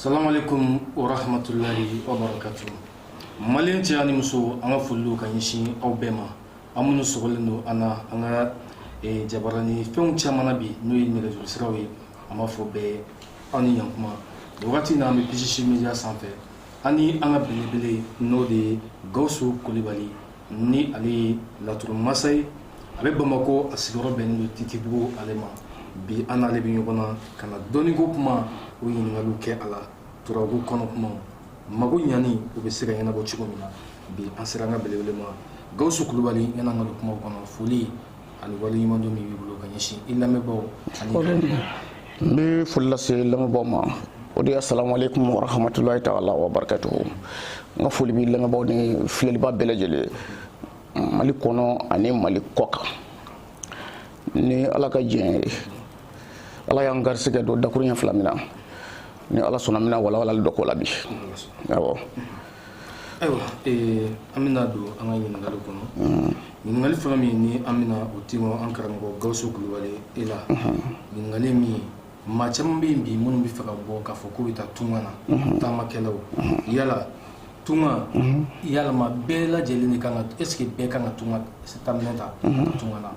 Salamalekum wa rahmatulahi wa barakatuh. Maliyɛn cɛ ani muso an ka foli don ka ɲɛsin aw bɛɛ ma aw minnu sɔgɔlen don an na an ka eh, jabarani fɛnw caman na bi n'o ye nɛgɛjuru siraw ye an b'a fɔ bɛɛ aw ni yankuma nin wagati in na an bɛ PCC Media sanfɛ an ni an ka belebele n'o de ye Gawusu Kulibali ni ale ye laturu masa ye a bɛ bamakɔ a sigiyɔrɔ bɛnnen don titibugu ale ma bi an n'ale bɛ ɲɔgɔn na ka na dɔnniko kuma o ɲininkaliw kɛ a la turabu kɔnɔ kuma mago ɲani o bɛ se ka ɲɛnabɔ cogo min na bi an sera an ka belebele ma gawusu kulubali yanni an ka don kuma kɔnɔ foli ani waleɲumandɔn min b'i bolo ka ɲɛsin i lamɛnbaaw ani n bɛ foli lase lamɛnbaaw ma o de ye asalamualeykum warahamatulayi taala wa barakatuhu n ka foli b'i lamɛnbaaw ni filɛlibaa bɛɛ lajɛlen mali kɔnɔ ani mali kɔ kan ni ala ka diɲɛ ye ala y'an garisigɛ dɔn dakuruɲɛ fila min na ni ala sɔnna an bɛna walawalali dɔ k'o la bi awɔ Ayiwa an bɛna don an ka ɲininkali kɔnɔ ɲininkali fɔlɔ min ni an bɛna o kɛ an karamɔgɔ gawusu kulubali e la ɲininkali min maa caman bɛ yen bi minnu b'a fɛ ka bɔ k'a fɔ k'u bɛ taa tunga na taamakɛlaw yala tunga yala maa bɛɛ lajɛlen de ka kan ka est-ce que bɛɛ ka kan ka tunga minɛ taa tunga na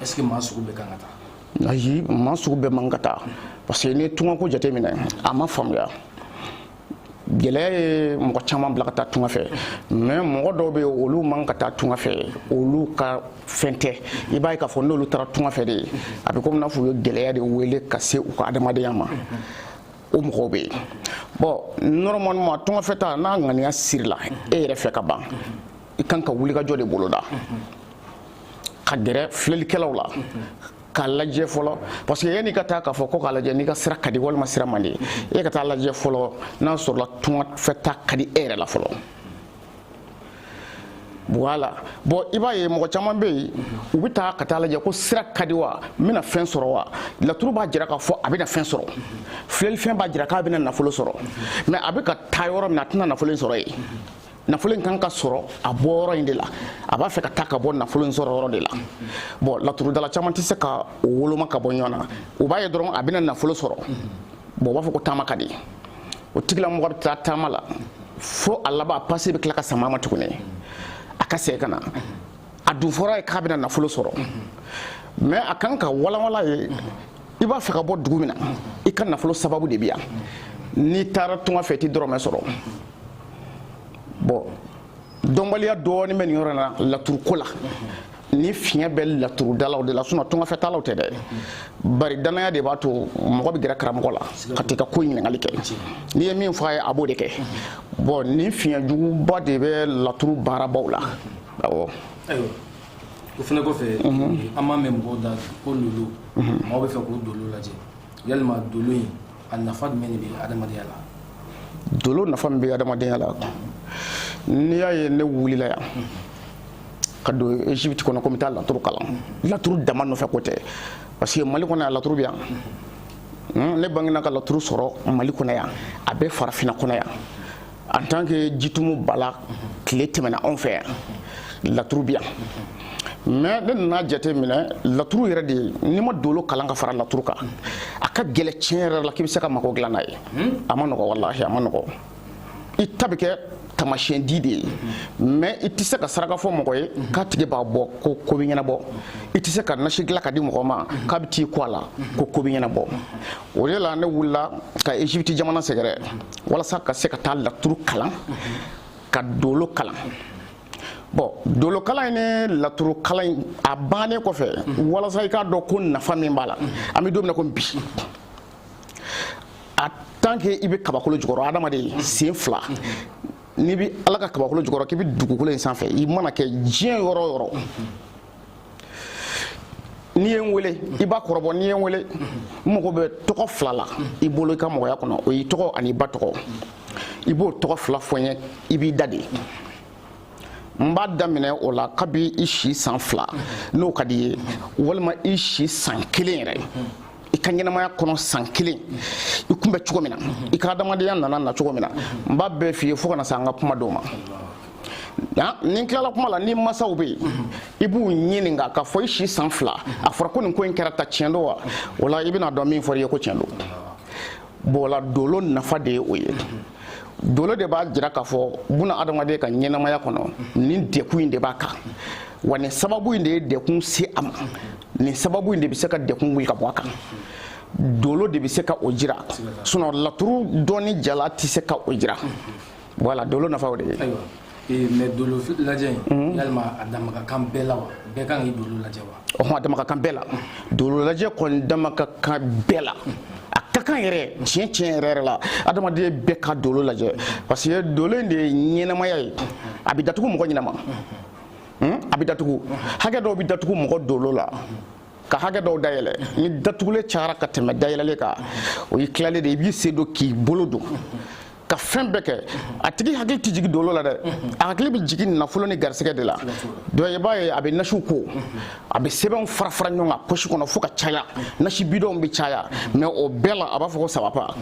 est-ce que maa sugu bɛɛ ka kan ka taa ayi maa sugu bɛɛ man ka taa parce que n ye tunga ko jateminɛ a ma faamuya gɛlɛya ye mɔgɔ caman bila ka taa tunga fɛ mais mɔgɔ dɔw bɛ olu man ka taa tunga fɛ olu ka fɛn tɛ i b'a ye k'a fɔ n'olu taara tunga fɛ de a bɛ komi n'a fɔ u ye gɛlɛya de wele ka se u ka adamadenya ma o mɔgɔw bɛ yen bon normalement tunga fɛ taa n'a ŋaniya sirila e yɛrɛ fɛ ka ban i kan ka wulikajɔ de boloda ka gɛrɛ filɛlikɛlaw la k'a lajɛ fɔlɔ parce que yanni i ka taa k'a fɔ ko k'a lajɛ n'i ka sira ka di walima sira man di e ka taa lajɛ fɔlɔ n'a sɔrɔla tunga fɛ taa ka di e yɛrɛ la fɔlɔ voilà bon i b'a ye mɔgɔ caman bɛ yen u bɛ taa ka taa lajɛ ko sira ka di wa n bɛna fɛn sɔrɔ wa laturu b'a jira k'a fɔ a bɛna fɛn sɔrɔ filɛlifɛn b'a jira k'a bɛna nafolo sɔrɔ mais a bɛ ka taa yɔrɔ min na a tɛna nafolo in sɔrɔ yen nafolo in kan ka sɔrɔ a bɔ yɔrɔ in de la a b'a fɛ ka taa ka bɔ nafolo in sɔrɔ yɔrɔ de la bon laturudala caman tɛ se ka o woloma ka bɔ ɲɔgɔn na u b'a ye dɔrɔn a bɛna nafolo sɔrɔ bon u b'a fɔ ko taama ka di o tigilamɔgɔ bɛ taa taama la fo a laban a pase bɛ tila ka sama a ma tuguni a ka segin ka na a dun fɔr'a ye k'a bɛna nafolo sɔrɔ mais a kan ka walawala a ye i b'a fɛ ka bɔ dugu min na i ka nafolo sababu de bɛ yan n'i taara tunga fɛ i tɛ dɔrɔmɛ sɔrɔ bon dɔnbaliya dɔɔni bɛ nin yɔrɔ in na laturuko la ni fiɲɛ bɛ laturudalaw de la sinon tungafɛtalaw tɛ dɛ bari danaya de b'a to mɔgɔ bɛ gɛrɛ karamɔgɔ la ka t'i ka ko ɲininkali kɛ n'i ye min fɔ a ye a b'o de kɛ bon ni fiɲɛ juguba de bɛ laturu baarabaw la awɔ o fana kɔfɛ an b'a mɛn mɔgɔw da ko lolo maaw b'a fɛ k'u dolo lajɛ yalima dolo in A nafa jumɛn de bɛ adamadenya la? Dolo nafa min bɛ adamadenya la, n'i y'a ye ne wulila yan ka don Egypte kɔnɔ ko n bɛ taa laturu kalan, laturu dama nɔfɛ ko tɛ parce que Mali kɔnɔ yan laturu bɛ yan, ne bangena ka laturu sɔrɔ Mali kɔnɔ yan, a bɛ farafinna kɔnɔ yan. en tant que jitumu bala tile tɛmɛna anw fɛ yan laturu bi yan mais ne nana jate minɛ laturu yɛrɛ de n'i ma dolo kalan ka fara laturu kan a ka gɛlɛn tiɲɛ yɛrɛ la k'i bɛ se ka mago dilan n'a ye a man nɔgɔ walahi a man nɔgɔ i ta bɛ kɛ tamasiyɛn di de ye mais i tɛ se ka saraka fɔ mɔgɔ ye k'a tigi b'a bɔ ko ko bɛ ɲɛnabɔ i tɛ se ka nasi dilan ka di mɔgɔ ma k'a bɛ t'i ko a la ko ko bɛ ɲɛnabɔ o de la ne wulila ka Égypte jamana sɛgɛrɛ walasa ka se ka taa laturu kalan ka dolo kalan bon dolokalan in ni laturu kalan in a bannen kɔfɛ walasa i k'a dɔn ko nafa min b'a la an bɛ don min na ko bi a tant que i bɛ kabakolo jukɔrɔ adamaden sen fila n'i bɛ ala ka kabakolo jukɔrɔ k'i bɛ dugukolo in sanfɛ i mana kɛ diɲɛ yɔrɔ o yɔrɔ n'i ye n wele i b'a kɔrɔbɔ n'i ye n wele n mago bɛ tɔgɔ fila la i bolo i ka mɔgɔya kɔnɔ o y'i tɔgɔ ani i ba tɔgɔ i b'o tɔgɔ fila fɔ n ye i b'i da de n b'a daminɛ o la kabi i si san fila n'o ka di i ye walima i si san kelen yɛrɛ i ka ɲɛnamaya kɔnɔ san kelen i kun bɛ cogo min na i ka adamadenya nana na cogo min na n b'a bɛɛ f'i ye fo ka na se an ka kuma don ma ni n tilala kuma la n'i masaw bɛ yen i b'u ɲininka k'a fɔ i si san fila a fɔra ko nin ko in kɛra tan tiɲɛ don wa o la i bɛna dɔn min fɔra i ye ko tiɲɛ don bon o la dolo nafa de ye o ye dolo de b'a jira k'a fɔ buna adamaden ka ɲɛnamaya kɔnɔ nin degun in de b'a kan wa nin sababu in de ye degun se a ma nin sababu in de bɛ se ka degun wuli ka bɔ a kan dolo de bɛ se ka o jira sinon laturu dɔnni jalan tɛ se ka o jira Voilà dolo nafaw de ayiwa mais dolo lajɛ in yalima a dama ka kan bɛɛ la wa bɛɛ ka kan ka dolo lajɛ wa a dama ka kan bɛɛ la dolo lajɛ kɔni dama ka kan bɛɛ la a ka kan yɛrɛ tiɲɛ tiɲɛ yɛrɛ yɛrɛ la adamaden bɛɛ ka dolo lajɛ parce que dolo in de ye ɲɛnamaya ye a bɛ datugu mɔgɔ ɲɛnama a bɛ datugu hakɛ dɔw bɛ datugu mɔgɔ dolo la ka hakɛ dɔw dayɛlɛ ni datugulen cayara ka tɛmɛ dayɛlɛlen kan o y'i tilalen de ye i b'i sen don k'i bolo don ka fɛn bɛɛ kɛ a tigi hakili tɛ jigin dolo la dɛ a hakili bɛ jigin nafolo ni garisɛgɛ de la donc i b'a ye a bɛ nasiw ko a bɛ sɛbɛnw fara fara ɲɔgɔn kan posi kɔnɔ fo ka caya nasi bidɔnw bɛ caya mais o bɛɛ la a b'a fɔ ko ça va pas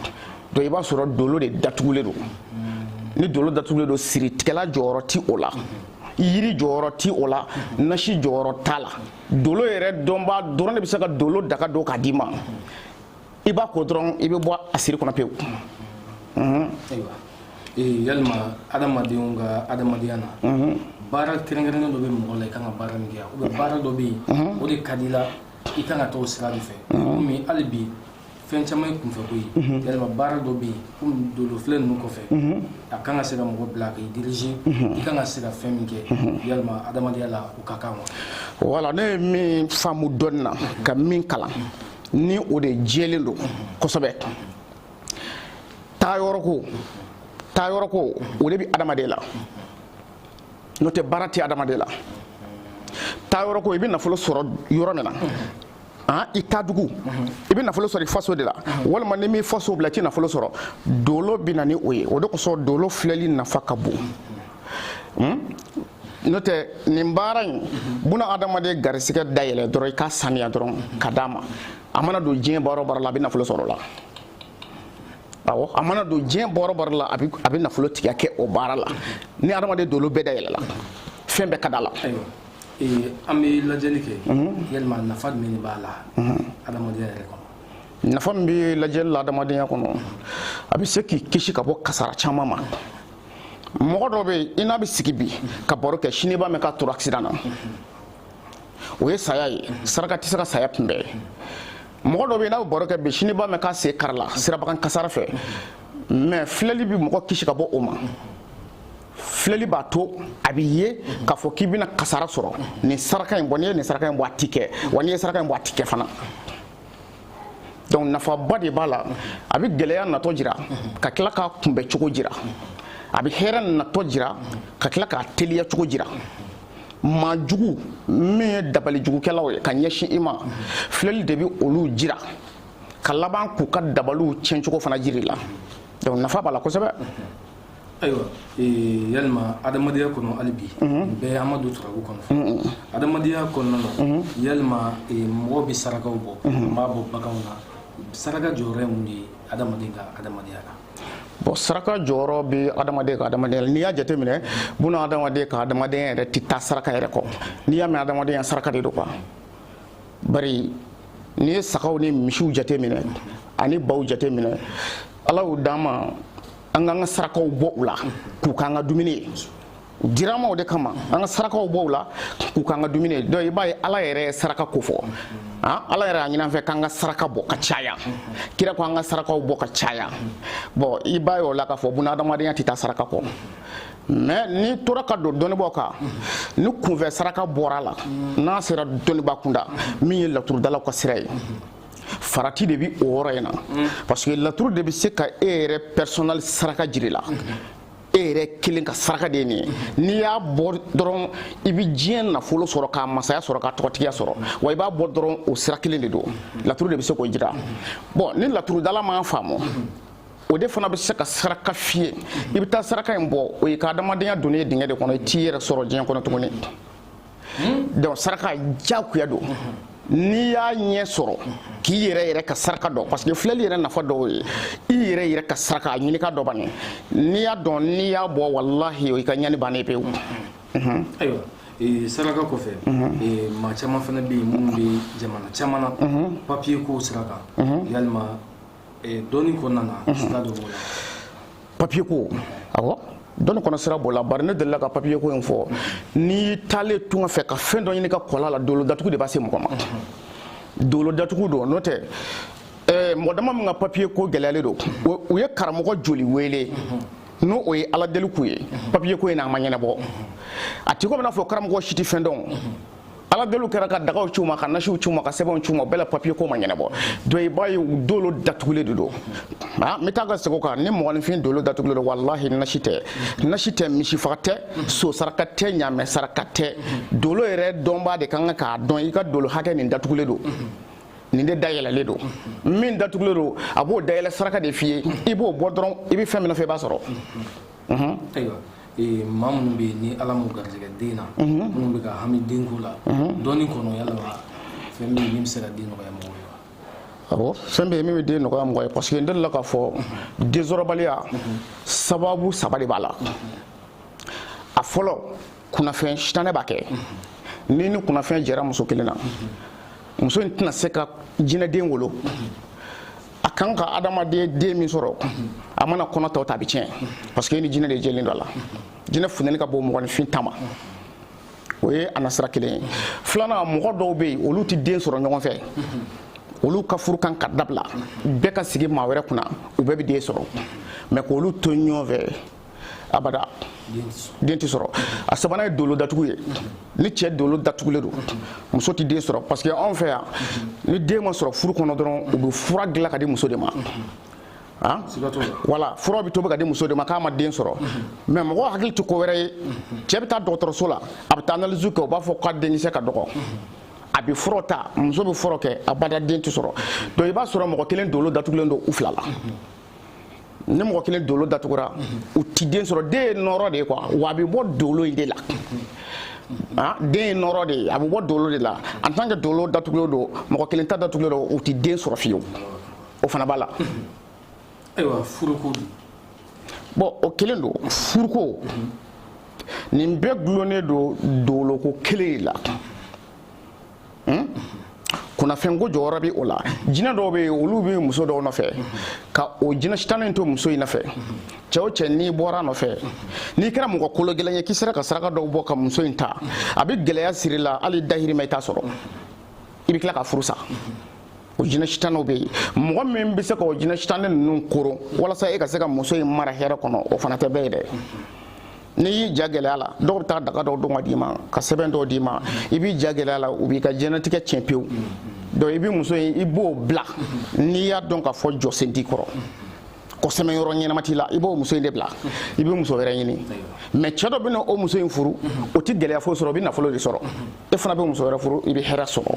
donc i b'a sɔrɔ dolo de datugulen don ni dolo datugulen don siritigɛla jɔyɔrɔ ti o la yiri jɔyɔrɔ ti o la nasi jɔyɔrɔ t'a la dolo yɛrɛ dɔnbaa dɔrɔn de bɛ se ka dolo daga don k'a d'i ma i b'a ko dɔrɔn i bɛ bɔ a siri kɔnɔ pewu yalima adamadenw ka adamadenya na baara kɛrɛnkɛrɛnnen dɔ bɛ mɔgɔ la i kan ka baara min kɛ ou bien baara dɔ bɛ yen o de ka di la i kan ka t'o sira de fɛ komi hali bi fɛn caman ye kunfɛko ye yalima baara dɔ bɛ yen komi dolofilɛ ninnu kɔfɛ a kan ka se ka mɔgɔ bila k'i diriger i kan ka se ka fɛn min kɛ yalima adamadenya la o ka kan wa voilà ne ye min faamu dɔɔnin na ka min kalan ni o de jɛlen don kosɛbɛ taa yɔrɔ ko taa yɔrɔ ko o de bɛ adamaden la n'o tɛ baara tɛ adamaden la taa yɔrɔ ko i bɛ nafolo sɔrɔ yɔrɔ min na ani taa dugu i bɛ nafolo sɔrɔ i faso de la walima n'i m'i faso bila i tɛ nafolo sɔrɔ dolo bɛ na ni o ye o de kosɔn dolo filɛli nafa ka bon. n'o tɛ nin baara in buna adamaden garisigɛ dayɛlɛ dɔrɔn i k'a saniya dɔrɔn k'a d'a ma a mana don diɲɛ baara o baara la a bɛ nafolo sɔrɔ o la awɔ a mana don diɲɛ baara o baara la a bɛ nafolotigiya kɛ o baara la ni adamaden dolo bɛɛ dayɛlɛla fɛn bɛɛ ka d'a la. an bɛ lajɛli kɛ yalima nafa jumɛn de b'a la adamadenya yɛrɛ kɔnɔ. nafa min bɛ lajɛli la adamadenya kɔnɔ a bɛ se k'i kisi ka bɔ kasara caman ma. mɔgɔ dɔ bɛ yen i n'a bɛ sigi bi ka baro kɛ sini b'a mɛn k'a tora accident na o ye saya ye saraka tɛ se ka saya kunbɛn mɔgɔ dɔ bɛ yen i n'a bɛ baro kɛ bi sini b'a mɛn k'a sen karila siraba kan kasara fɛ mais filɛli bɛ mɔgɔ kisi ka bɔ o ma filɛli b'a to a bɛ ye k'a fɔ k'i bɛna kasara sɔrɔ nin saraka in bɔ n'i ye nin saraka in bɔ a ti kɛ wa n'i ye saraka in bɔ a ti kɛ fana donc nafaba de b'a la a bɛ gɛlɛya natɔ jira ka tila k'a kunbɛn cogo jira a bɛ hɛrɛ natɔ jira ka tila k'a teliya cogo jira maa jugu min ye dabali jugukɛlaw ye ka ɲɛsin i ma filɛli de bɛ olu jira ka laban k'u ka dabaliw tiɲɛcogo fana jir'i la donc nafa b'a la kosɛbɛ ayiwa yalima adamadenya kɔnɔ hali bi bɛɛ an ma don turabu kɔnɔ adamadenya kɔnɔna na yalima mɔgɔ bɛ sarakaw bɔ n b'a bɔ baganw na saraka jɔyɔrɔ ye mun ye adamaden ka adamadenya la bon saraka jɔyɔrɔ bɛ adamaden ka adama n'i y'a jateminɛ buna adamaden ka adamadenya yɛrɛ tɛ taa saraka yɛrɛ kɔ n'i y'a mɛn adamadenya saraka de don quoi bari n'i ye sagaw ni misiw jateminɛ ani baw jateminɛ ala y'u d'an ma an k'an ka sarakaw bɔ u la k'u k'an ka dumuni ye u dira an ma o de kama an ka sarakaw bɔ u la k'u k'an ka dumuni ye donc i b'a ye ala yɛrɛ ye saraka ko fɔ ah, ala yɛrɛ y'a ɲini an fɛ k'an ka saraka bɔ ka caya kira ko an ka sarakaw bɔ ka caya bon i b'a ye o la k'a fɔ buna adamadenya tɛ taa saraka kɔ mais n'i tora ka dɔɔnin dɔɔnin bɔ kan ni kunfɛ saraka bɔra a la n'a sera dɔnniba kunda min ye laturudalaw ka sira ye farati de bi o yɔrɔ in na parce que laturu de bɛ se ka e yɛrɛ personnel saraka jira i la e yɛrɛ kelen ka saraka de ye nin ye n'i y'a bɔ dɔrɔn i bɛ diɲɛ nafolo sɔrɔ k'a masaya sɔrɔ k'a tɔgɔtigiya sɔrɔ wa i b'a bɔ dɔrɔn o sira kelen de don laturu de bɛ se k'o jira bon ni laturudala m'a faamu o de fana bɛ se ka saraka f'i ye i bɛ taa saraka in bɔ o y'e ka adamadenya donnen ye dingɛ de kɔnɔ i t'i yɛrɛ sɔrɔ diɲɛ kɔnɔ tuguni hmm? donc saraka jagoya don n'i y'a ɲɛ sɔrɔ k'i yɛrɛ yɛrɛ ka saraka dɔn parce que filɛli yɛrɛ nafa dɔw ye i yɛrɛ yɛrɛ ka saraka a ɲini k'a dɔn bani n'i y'a dɔn n'i y'a bɔ walahi o i ka ɲani bannen pewu ayiwa eh, saraka kɔfɛ eh, maa caman fana bɛ yen minnu bɛ jamana caman na papiye ko sira kan yalima dɔnni kɔnɔna na sira dɔ b'o la papier ko awɔ dɔnni kɔnɔ sira b'o la bari ne delila ka papier ko in fɔ n'i taalen tunga fɛ ka fɛn dɔ ɲini ka kɔla la dolo datugu de b'a se mɔgɔ ma dolo datugu don n'o tɛ eh, mɔgɔ dama min ka papier ko gɛlɛyalen don u ye karamɔgɔ joli wele n'o o ye ala deli k'u ye papier ko in na a ma ɲɛnabɔ a tɛ ko an bɛna a fɔ karamɔgɔ si tɛ fɛn dɔn ala deliw kɛra ka dagaw ci u ma ka nasiw ci u ma ka sɛbɛnw ci u ma bɛɛ la papiye ko ma ɲɛnabɔ donc i b'a ye dolo datugulen de don a n bɛ taa ka segin o kan ni mɔgɔninfin dolo datugulen don walahi nasi tɛ misi faga tɛ so saraka tɛ ɲaamɛ saraka tɛ dolo yɛrɛ dɔnbaa de ka kan k'a dɔn i ka dolo hakɛ nin datugulen don nin de dayɛlɛlen don min datugulen don a b'o dayɛlɛ saraka de f'i ye i b'o bɔ dɔrɔn i bɛ fɛn min nɔfɛ i b'a sɔrɔ Ee maa minnu bɛ yen ni ala m'u garijɛgɛ den na minnu bɛ ka hami den ko la dɔnni kɔnɔ yala fɛn min bɛ se ka den nɔgɔya mɔgɔ ye wa fɛn bɛ min bɛ den nɔgɔya mɔgɔ ye parce que n delila k'a fɔ densɔrɔbaliya sababu saba de b'a la a fɔlɔ kunnafɛn sitanɛ b'a kɛ n'i ni kunnafɛn jɛra muso kelen na muso in tɛna se ka jinɛden wolo a kan ka adamaden den min sɔrɔ a mana kɔnɔ ta o ta a bɛ tiɲɛ parce que e ni jinɛ de jɛlen don a la jinɛ funteni ka bon mɔgɔninfin ta ma o ye a nasira kelen ye filanan mɔgɔ dɔw bɛ yen olu tɛ den sɔrɔ ɲɔgɔn fɛ olu ka furu kan ka dabila bɛɛ ka sigi maa wɛrɛ kunna u bɛɛ bɛ den sɔrɔ mais k'olu to ɲɔgɔn fɛ abada den tɛ sɔrɔ a sabanan ye dolo datugu ye ni cɛ dolo datugulen don muso tɛ den sɔrɔ parce que anw fɛ yan ni den ma sɔrɔ furu kɔnɔ dɔrɔn u bɛ fura dilan ka di muso de ma ah voilà fura bɛ tobi ka di muso de ma k'a ma den sɔrɔ mais mɔgɔ hakili tɛ ko wɛrɛ ye cɛ bɛ taa dɔgɔtɔrɔso la a bɛ taa analyse kɛ u b'a fɔ k'a denkisɛ ka dɔgɔ a bɛ fura ta muso bɛ fura kɛ abada den tɛ sɔrɔ donc i b'a sɔrɔ mɔgɔ kelen dolo datugulen don u fila la ni mɔgɔ kelen dolo datugura u ti den sɔrɔ den ye nɔɔrɔ de ye quoi wa a bɛ bɔ dolo in de la ah, den ye nɔɔrɔ de ye a bɛ bɔ dolo de la en tant que dolo datugulen don mɔgɔ kelen ta datugulen don u ti den sɔrɔ fiyewu o fana b'a la. ayiwa furuko dun. bon o kelen don furuko nin bɛɛ gulonnen don doloko kelen de la hmm? kunnafɛnko jɔyɔrɔ bɛ o la jinɛ dɔw bɛ yen olu bɛ muso dɔw nɔfɛ ka o jinɛ sitani to muso in nɔfɛ cɛ o cɛ n'i bɔra nɔfɛ n'i kɛra mɔgɔ kolo gɛlɛn ye k'i sera ka saraka dɔw bɔ ka muso in ta a bɛ gɛlɛya siri i la hali dahirimɛ i t'a sɔrɔ i bɛ tila ka furu sa o jinɛ sitaniw bɛ yen mɔgɔ min bɛ se ka o jinɛ sitani ninnu koron walasa e ka se ka muso in mara hɛrɛ kɔnɔ o fana tɛ bɛɛ ye dɛ n'i y'i ja gɛlɛya a la dɔw bɛ taa daga dɔw don ka d'i ma ka sɛbɛn dɔw d'i ma i b'i ja gɛlɛya a la u b'i ka diɲɛnatigɛ tiɲɛ pewu donc i bɛ muso in i b'o bila n'i y'a dɔn k'a fɔ jɔsen t'i kɔrɔ ko sɛmɛyɔrɔ ɲɛnama t'i la i b'o muso in de bila i bɛ muso wɛrɛ ɲini mais cɛ dɔ bɛ na o muso in furu o tɛ gɛlɛya foyi sɔrɔ o bɛ nafolo de sɔrɔ e fana bɛ muso wɛrɛ furu i bɛ hɛrɛ sɔrɔ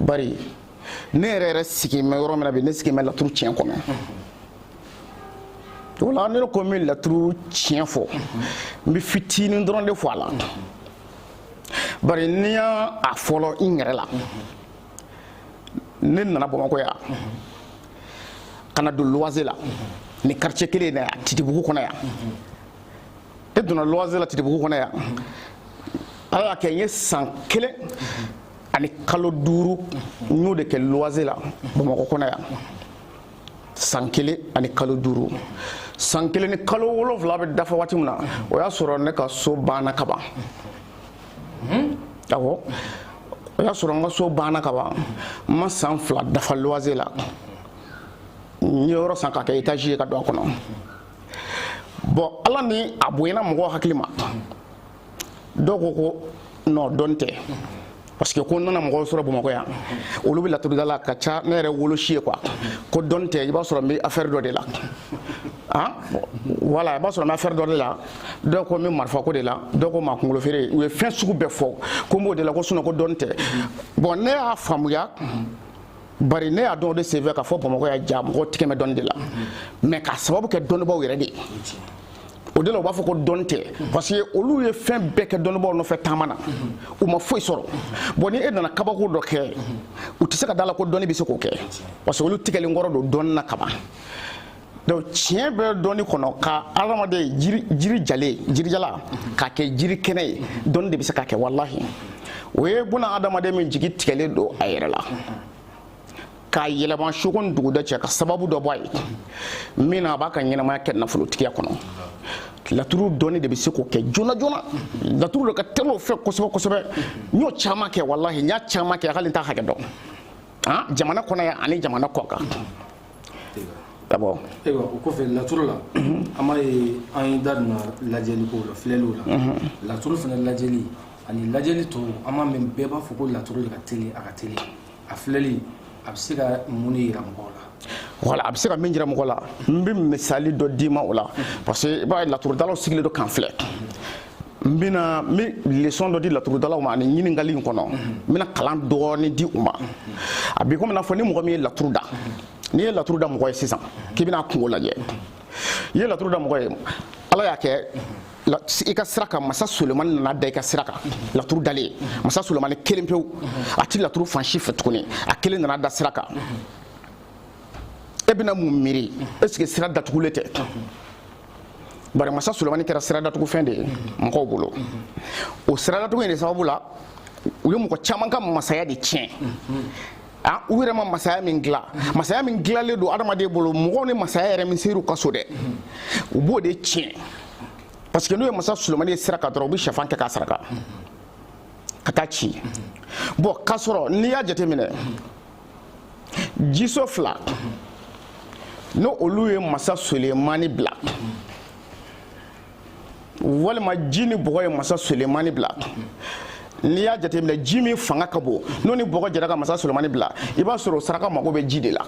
bari ne yɛrɛ yɛrɛ sigi mɛ yɔrɔ min na bi ne sigi mɛ laturu tiɲɛ kɔnɔ voilà ne ko n bɛ laturu tiɲɛ fɔ n bɛ fitinin dɔrɔn de fɔ a la bari ni n y'a a fɔlɔ n yɛrɛ la ne nana bamakɔ yan ka na don luwanse la nin quartier kelen in na yan titibugu kɔnɔ yan e donna luwanze la titibugu kɔnɔ yan ala y'a kɛ n ye san kelen ani kalo duuru n y'o de kɛ luwanze la bamakɔ kɔnɔ yan san kelen ani kalo duuru san kelen ni kalo wolonfila bɛ dafa waati min na o y'a sɔrɔ ne ka so banna ka ban awɔ o y'a sɔrɔ n ka so banna ka ban n ma san fila dafa luwanze la n ye yɔrɔ san k'a kɛ étage ye ka don a kɔnɔ bon ala ni a bonyana mɔgɔ hakilima dɔw ko ko non dɔn tɛ parce que ko n nana mɔgɔw sɔrɔ bamakɔ yan olu bɛ laturu da la ka ca ne yɛrɛ wolosi ye quoi ko dɔn tɛ i b'a sɔrɔ n bɛ affaire dɔ de la ah voilà i b'a sɔrɔ n bɛ affaire dɔ de la dɔw ko n bɛ marifa ko de la dɔw ko maa kunkolo feere u ye fɛn sugu bɛɛ fɔ ko n b'o de la ko sinon ko dɔn tɛ bon ne y'a faamuya bari ne y'a dɔn o de senfɛ k'a fɔ bamakɔ yan jaa mɔgɔw tigɛ bɛ dɔnni de la mais k'a sababu kɛ dɔnnibaaw yɛrɛ de ye o de la u b'a fɔ ko dɔnni tɛ parce que olu ye fɛn bɛɛ kɛ dɔnnibaaw nɔfɛ taama na u ma foyi sɔrɔ bon ni e nana kabako dɔ kɛ u tɛ se ka da la ko dɔnni bɛ se k'o kɛ parce que olu tigɛlen kɔrɔ don dɔnni na kaban donc tiɲɛ bɛ dɔnni kɔnɔ ka adamaden jiri jalen jiri jalan k'a kɛ jiri kɛnɛ ye dɔnni de bɛ se k'a kɛ walahi o ye buna adamaden min jigi tigɛlen don a yɛrɛ la k'a yɛlɛma soko ni duguda cɛ ka sababu dɔ bɔ a ye min na a b'a ka ɲɛnamaya kɛ nafolotigiya kɔnɔ laturu dɔnni de bɛ se k'o kɛ joona joona laturu de ka teli o fɛ kosɛbɛ kosɛbɛ n y'o caman kɛ walahi n y'a caman kɛ hali n t'a hakɛ dɔn jamana kɔnɔ yan ani jamana kɔkan ka bɔ ayiwa o kɔfɛ laturu la an b'a ye an ye da donna lajɛli ko la filɛliw la laturu fana lajɛli ani lajɛli tɔw an b'a mɛn bɛɛ b'a fɔ ko laturu de ka teli a ka teli a filɛli a bɛ se ka mun de yira mɔgɔw la voilà a bɛ se ka min jira mɔgɔ la n bɛ misali dɔ d'i ma o la parce que i b'a ye laturudalaw sigilen don k'an filɛ n bɛna n bɛ leçon dɔ di laturudalaw ma ani ɲininkali in kɔnɔ n bɛna kalan dɔɔnin di u ma a b'i komi n'a fɔ ni mɔgɔ min ye laturu da n'i ye laturu da mɔgɔ ye sisan k'i bɛna a kunko lajɛ i ye laturu da mɔgɔ ye ala y'a kɛ i ka sira kan masa solemani nana da i ka sira kan laturu dalen masa solemani kelen pewu a ti laturu fan si fɛ tuguni a kelen nana da sira kan e bɛna mun miiri est ce que sira datugulen tɛ bari masa sulemani kɛra siradatugufɛn de ye mɔgɔw bolo o siradatugu in de sababu la u ye mɔgɔ caman ka masaya de tiɲɛ ah, u yɛrɛ ma masaya min dilan masaya min dilalen don adamaden bolo mɔgɔw ni masaya yɛrɛ min ser'u ka so dɛ u b'o de tiɲɛ parce que n'u ye masa sulemani ye sira kan dɔrɔn u bɛ sɛfan kɛ k'a saraka ka taa ci bon k'a sɔrɔ n'i y'a jateminɛ jiso fila n'olu ye masa solemani bila walima ji ni bɔgɔ ye masa solemani bila n'i y'a jateminɛ ji min fanga ka bon n'o ni bɔgɔ jɛra ka masa solemani bila i b'a sɔrɔ o saraka mago bɛ ji de la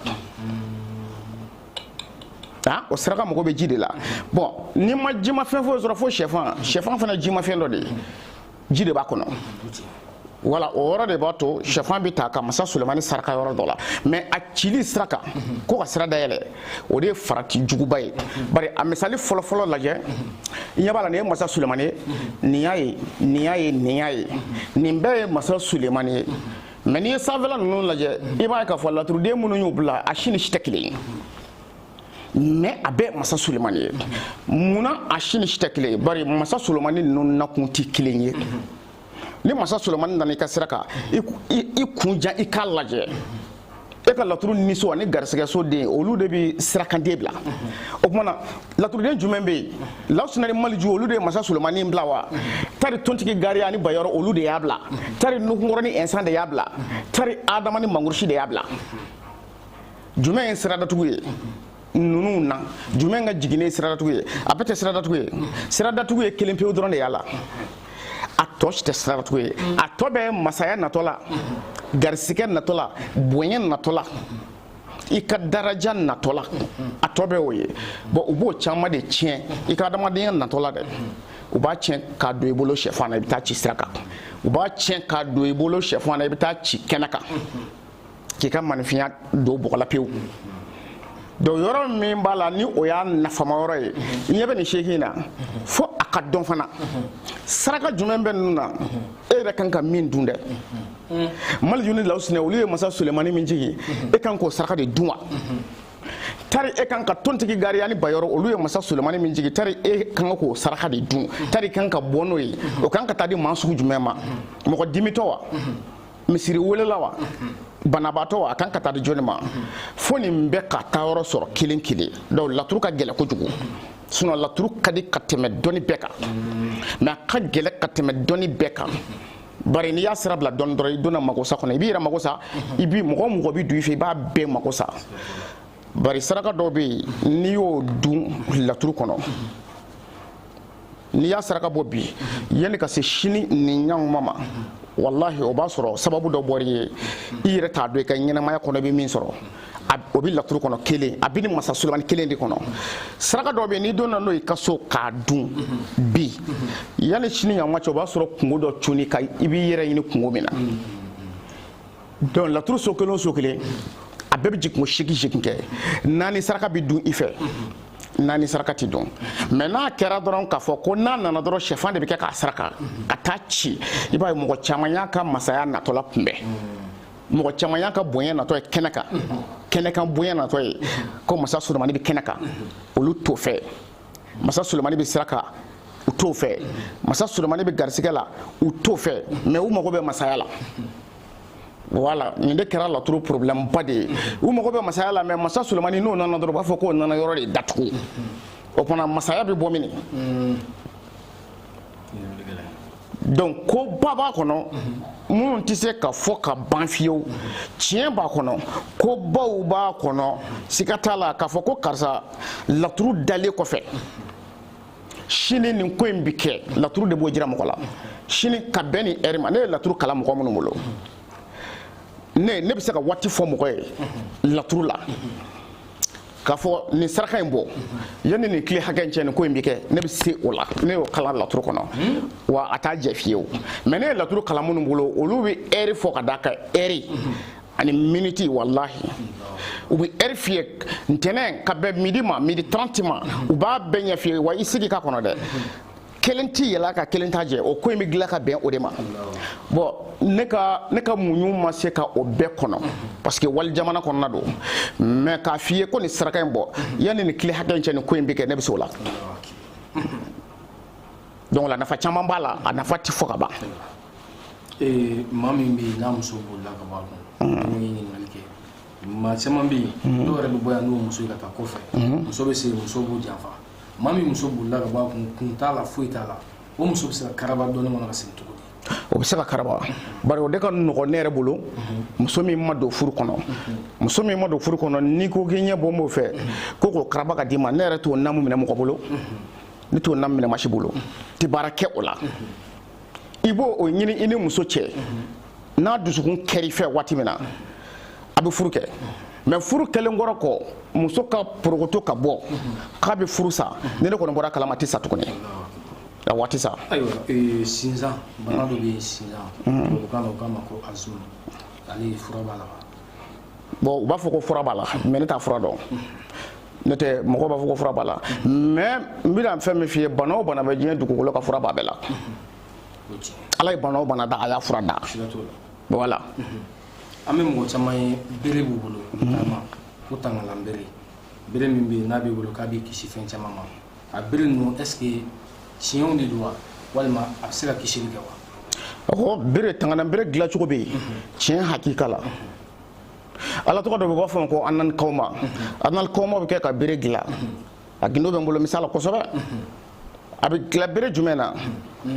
aa o saraka mago bɛ ji de la bon n'i ma jimafɛn foyi sɔrɔ fo sɛfan sɛfan fana jimafɛn dɔ de ye ji de b'a kɔnɔ voilà o yɔrɔ de b'a to shɛfan bɛ ta ka masa sulemani saraka yɔrɔ dɔ la mais a cili sira kan ko ka sira dayɛlɛ o de ye farati juguba ye bari a misali fɔlɔfɔlɔ lajɛ i ɲɛ b'a la nin ye masa sulemani ye nin y'a ye nin y'a ye nin y'a ye nin bɛɛ ye masa sulemani ye mais n'i ye sanfɛla ninnu lajɛ i b'a ye k'a fɔ laturuden minnu y'u bila a si ni si tɛ kelen ye mais a bɛɛ masa sulemani ye munna a si ni si tɛ kelen ye bari masa sulemani ninnu nakun tɛ kelen ye ni masa sulemani nana i ka sira kan i kun ja i k'a lajɛ e ka laturu niso ani garisɛgɛso den olu de bɛ sirakanden bila o tuma na laturuden jumɛn bɛ yen lawusina ni maliju olu de ye masa sulemani bila wa tari tontigi gariya ani bayɔrɔ olu de y'a bila tari nuhunkɔrɔ ni ɛnsan de y'a bila tari adama ni mangurusi de y'a bila jumɛn ye siradatugu ye ninnu na jumɛn ka jiginnen ye siradatugu ye a bɛɛ tɛ siradatugu ye siradatugu ye kelen pewu dɔrɔn de y'a la a tɔ si tɛ siradatugu ye a tɔ bɛ masaya natɔ la garisigɛ natɔ la bonya natɔ la i ka daraja natɔ la a tɔ bɛ o ye bon u b'o caman de tiɲɛ i ka adamadenya natɔ la dɛ u b'a tiɲɛ k'a don i bolo sɛfan na i bɛ taa ci sira kan u b'a tiɲɛ k'a don i bolo sɛfan na i bɛ taa ci kɛnɛ kan k'i ka maninfinya don bɔgɔ la pewu donc yɔrɔ min b'a la ni o y'a nafama yɔrɔ ye i ɲɛ bɛ nin seegin na fo a ka dɔn fana saraka jumɛn bɛ ninnu na e yɛrɛ kan ka min dun dɛ maliju ni lawusina olu ye masa sulemani min jigin e kan k'o saraka de dun wa tari e kan ka tontigi gariya ni bayɔrɔ olu ye masa sulemani min jigin tari e kan ka k'o saraka de dun tari i kan ka bɔ n'o ye o kan ka taa di maa sugu jumɛn ma mɔgɔ dimitɔ wa misiri welela wa banabaatɔ wa a kan ka taa di jɔni ma fo nin bɛɛ ka taa yɔrɔ sɔrɔ kelen kelen donc laturu ka gɛlɛn kojugu sinon laturu ka di ka tɛmɛ dɔnni bɛɛ kan mais a ka gɛlɛn ka tɛmɛ dɔnni bɛɛ kan bari n'i y'a sira bila dɔɔni dɔrɔn i donna magosa kɔnɔ i b'i yɛrɛ mago sa i bi mɔgɔ o mɔgɔ bi don i fɛ i b'a bɛɛ mago sa bari saraka dɔw bɛ yen n'i y'o dun laturu kɔnɔ n'i y'a saraka bɔ bi yanni ka se sini nin ɲanguma ma walahi o b'a sɔrɔ sababu dɔ bɔr'i ye i yɛrɛ t'a dɔn i ka ɲɛnamaya kɔnɔ i bɛ min sɔrɔ o bɛ laturu kɔnɔ kelen a bɛ nin masa sulemani kelen de kɔnɔ saraka dɔ bɛ yen n'i donna n'o ye i ka so k'a dun bi yanni sini ɲanguma cɛ o b'a sɔrɔ kunko dɔ cunn'i kan i b'i yɛrɛ ɲini kunko min na donc laturu so kelen o so kelen a bɛɛ bɛ jigin ko seegin seegin kɛ naani saraka bɛ dun i fɛ naani saraka tɛ dun mais n'a kɛra dɔrɔn k'a fɔ ko n'a nana dɔrɔn sɛfan de bɛ kɛ k'a saraka ka taa ci i b'a ye mɔgɔ caman y'a ka masaya natɔ lakunbɛn mɔgɔ caman y'a ka bonya natɔ ye kɛnɛ kan kɛnɛ kan bonya natɔ ye ko masa sulemani bɛ kɛnɛ kan olu t'o fɛ masa sulemani bɛ sira kan u t'o fɛ masa sulemani bɛ garisigɛ la u t'o fɛ mais u mago bɛ masaya la voilà nin de kɛra laturu problème ba de ye u mago bɛ masaya la mais masa sulemani n'o nana dɔrɔn u b'a fɔ k'o nana yɔrɔ de datugu o tuma masaya bɛ bɔ mini donc ko ba b'a kɔnɔ minnu tɛ se ka fɔ ka ban fiyewu tiɲɛ b'a kɔnɔ ko baw b'a kɔnɔ siga t'a la k'a fɔ ko karisa laturu dalen kɔfɛ sini nin ko in bɛ kɛ laturu de b'o jira mɔgɔ la sini ka bɛn nin ɛri ma ne ye laturu kalan mɔgɔ minnu bolo ne ne bɛ se ka waati fɔ mɔgɔ ye laturu la k'a fɔ nin saraka in bɔ yanni nin tile hakɛ in cɛ nin ko in bɛ kɛ ne bɛ se o la ne y'o kalan laturu kɔnɔ wa a t'a jɛ fiyewu mais ne ye laturu kalan minnu bolo olu bɛ ɛri fɔ ka d'a kan ɛri ani miniti walahi u bɛ ɛri f'i ye ntɛnɛn ka bɛn midi ma midi 30 ma u b'a bɛɛ ɲɛf'i ye wa i sigi k'a kɔnɔ dɛ kelen tɛ yɛl'a kan kelen t'a jɛ o ko in bɛ dilan ka bɛn o de ma bon ne ka ne ka muɲu ma se ka o bɛɛ kɔnɔ parce que wali jamana kɔnɔna don mais k'a f'i ye ko nin saraka in bɔ yanni nin tile hakɛ in cɛ nin ko in bɛ kɛ ne bɛ se o la donc o la nafa caman b'a la a nafa tɛ fɔ ka ban. maa min bɛ yen n'a muso bolila ka bɔ a kun. maa caman bɛ yen mhm. dɔw yɛrɛ bɛ bɔ yan n'u muso ye ka taa kɔfɛ mhm. muso bɛ se muso b'u janfa maa min muso bolila ka bɔ a kun kun t'a la foyi t'a la o muso bɛ se ka karaba dɔnni kɔnɔ ka segin cogo di o bɛ se ka karaba bari o de ka nɔgɔn ne yɛrɛ bolo muso min ma don furu kɔnɔ muso min ma don furu kɔnɔ n'i ko k'i ɲɛ bɔlen b'o fɛ ko k'o karaba ka d'i ma ne yɛrɛ t'o namu minɛ mɔgɔ bolo ne t'o namu minɛ maa si bolo tɛ baara kɛ o la i b'o o ɲini i ni muso cɛ n'a dusukun kɛr'i fɛ waati min na a bɛ furu kɛ mais furu kɛlen kɔrɔ kɔ muso ka porokoto ka bɔ k'a bɛ furu sa ni ne kɔni bɔr'a kalama a tɛ sa tuguni wa a tɛ sa ayiwa eh, sinzan bana dɔ bɛ yen sinzan tubabukan na u k'a ma ko asthme ale fura b'a la wa bon u b'a fɔ ko fura b'a la mais ne t'a fura dɔn n'o tɛ mɔgɔw b'a fɔ ko fura b'a la mais n bɛna fɛn min f'i ye bana o bana bɛ diɲɛ dugukolo kan fura b'a bɛɛ la ala ye bana o bana da a y'a fura da voilà an bɛ mɔgɔ caman ye bere b'u bolo taama ko tangalan bere bere min bɛ yen n'a b'i bolo k'a b'i kisi fɛn caman ma a bere ninnu est ce que tiɲɛw de don wa walima a bɛ se ka kisili kɛ wa ɔhɔ bere tangalan bere dilancogo bɛ yen tiɲɛ hakika la ala tɔgɔ dɔ bɛ u b'a f'a ma ko anani kɔma anani kɔma bɛ kɛ ka bere dilan a gindo bɛ n bolo misala kosɛbɛ a bɛ dilan bere jumɛn na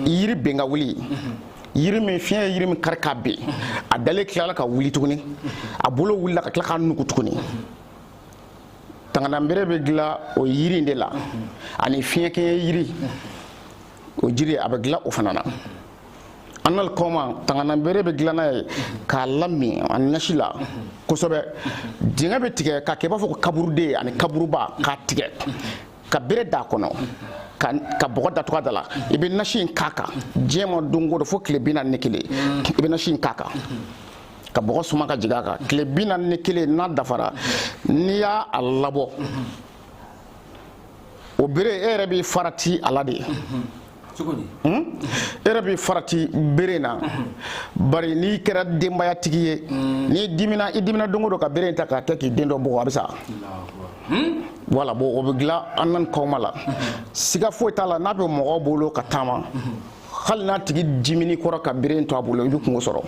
yiri ben ka wuli yiri min fiɲɛ ye yiri min kari ka ben a dalen tilala ka wuli tuguni a bolo wulila ka tila ka nugu tuguni tangananbere bɛ dilan o yiri in de la ani fiɲɛ kɛɲɛ yiri o jiri a bɛ dilan o fana na an na kɔma tangananbere bɛ dilan n'a ye k'a lamin a nasi la kosɛbɛ dingɛ bɛ tigɛ k'a kɛ i b'a fɔ ko kaburuden ani kaburuba k'a tigɛ ka bere d'a kɔnɔ ka bɔgɔ datugu a da la i bɛ nasi in k'a kan diɲɛ ma don o don fo tile bi naani ni kelen i bɛ nasi in k'a kan ka bɔgɔ suma ka jigin a kan tile bi naani ni kelen n'a dafara n'i y'a a labɔ o bere e yɛrɛ b'i farati a la de e yɛrɛ b'i farati bere na bari n'i kɛra denbayatigi ye mm. n'i dimina i dimina don o don ka bere ta k'a kɛ k'i den dɔ bugɔ a bɛ sa hmm? voilà bon o bɛ dilan an nan kɔma la siga foyi t'a la n'a bɛ mɔgɔ bolo ka taama hali n'a tigi dimini kɔrɔ ka bere to a bolo i bɛ kungo sɔrɔ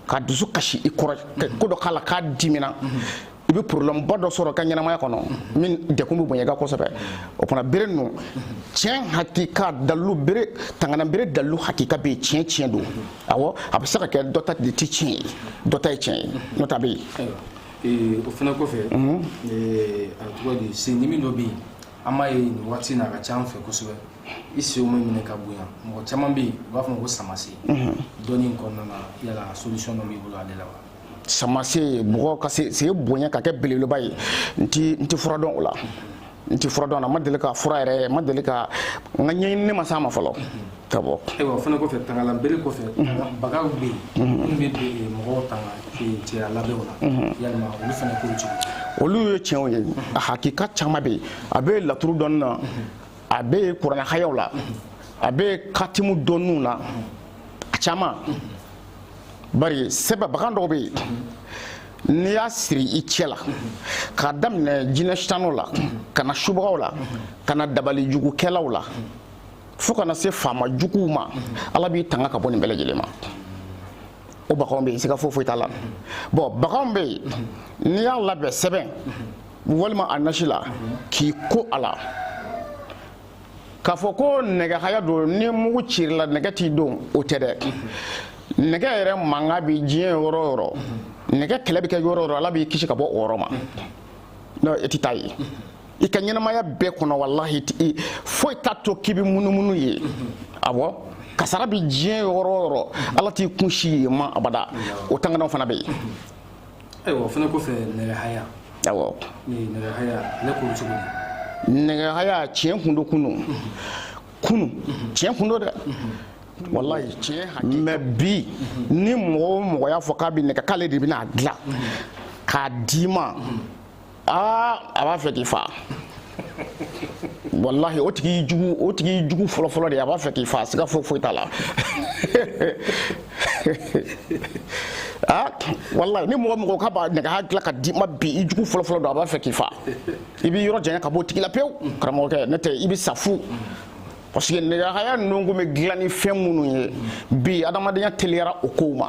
ka dusu kasi i kɔrɔ ko dɔ k'a la k'a dimina i bɛ problème ba dɔ sɔrɔ ka ɲɛnamaya kɔnɔ min degun bɛ bonya i kan kosɛbɛ o fana bere ninnu tiɲɛ hakika dalilu bere tangana bere dalilu hakika bɛ yen tiɲɛ tiɲɛ don awɔ a bɛ se ka kɛ dɔ ta de ti tiɲɛ ye dɔ ta ye tiɲɛ ye n'o t'a bɛ yen. Eh, o fana kɔfɛ mhm. eh, a tɔgɔ di sendimi dɔ bɛ yen an b'a ye nin waati in na a ka ca an fɛ kosɛbɛ i senw bɛ minɛ ka bonya mɔgɔ caman bɛ yen u b'a fɔ ko samasen mhm. dɔnni in kɔnɔna na yala solution dɔ b'i bolo ale la wa. samasen mɔgɔ ka sen bonya ka kɛ belebeleba ye n ti n ti fura dɔn o la n ti fura dɔn n ma deli k'a fura yɛrɛ ma deli ka n ka ɲɛɲinini ma s'a ma fɔlɔ d'abord ayiwa o fana kɔfɛ tangalan bere kɔfɛ baganw bɛ yen minnu bɛ don mɔgɔw tanga cɛya labɛnw na yalima olu fana ko cogo olu ye tiɲɛw ye a hakika caman bɛ yen a bɛ laturu dɔnni na a bɛ kuranɛ hayaw la a bɛ katimu dɔnniw na a caman bari sɛbɛn bagan dɔw bɛ yen n'i y'a siri i cɛ la k'a daminɛ jinɛ sitaniw la ka na subagaw la ka na dabali jugukɛlaw la fo ka na se faama juguw ma ala b'i tanga ka bɔ nin bɛɛ lajɛlen ma o baganw bɛ yen siga foyi foyi t'a la bon baganw bɛ yen n'i y'a labɛn sɛbɛn walima a nasi la k'i ko a la k'a fɔ ko nɛgɛhaya don ni mugu cira i la nɛgɛ t'i don o tɛ dɛ nɛgɛ yɛrɛ mankan bɛ diɲɛ yɔrɔ o yɔrɔ nɛgɛ kɛlɛ bɛ kɛ yɔrɔ o yɔrɔ ala b'i kisi ka bɔ o yɔrɔ ma n'o e tɛ taa yen i ka ɲɛnamaya bɛɛ kɔnɔ walahi foyi t'a to k'i bɛ munumunu yen awɔ kasara bɛ diɲɛ yɔrɔ o yɔrɔ ala t'i kun sin yen ma abada o tanganaw fana bɛ yen ayiwa o fana kɔfɛ nɛgɛhaya awɔ nɛgɛhaya ale ko cogo nɛgɛhaya tiɲɛ kun don kunu kunu tiɲɛ kun don dɛ walayi tiɲɛ hakika mais bi ni mɔgɔ o mɔgɔ y'a fɔ k'a bɛ nɛgɛ k'ale de bɛna a dilan k'a d'i ma aa a b'a fɛ k'i fa walahi o tigi jugu o tigi jugu fɔlɔfɔlɔ de a b'a fɛ k'i fa siga foyi foyi t'a la ah, walahi ni mɔgɔ mɔgɔ k'a b'a nɛgɛhaya dilan ka d'i ma bi i jugu fɔlɔfɔlɔ don a b'a fɛ k'i fa i b'i yɔrɔ janya ka b'o tigi la pewu karamɔgɔkɛ n'o tɛ i bɛ sa fu parce que nɛgɛhaya ninnu kun bɛ dilan ni fɛn minnu ye bi adamadenya teliyara o kow ma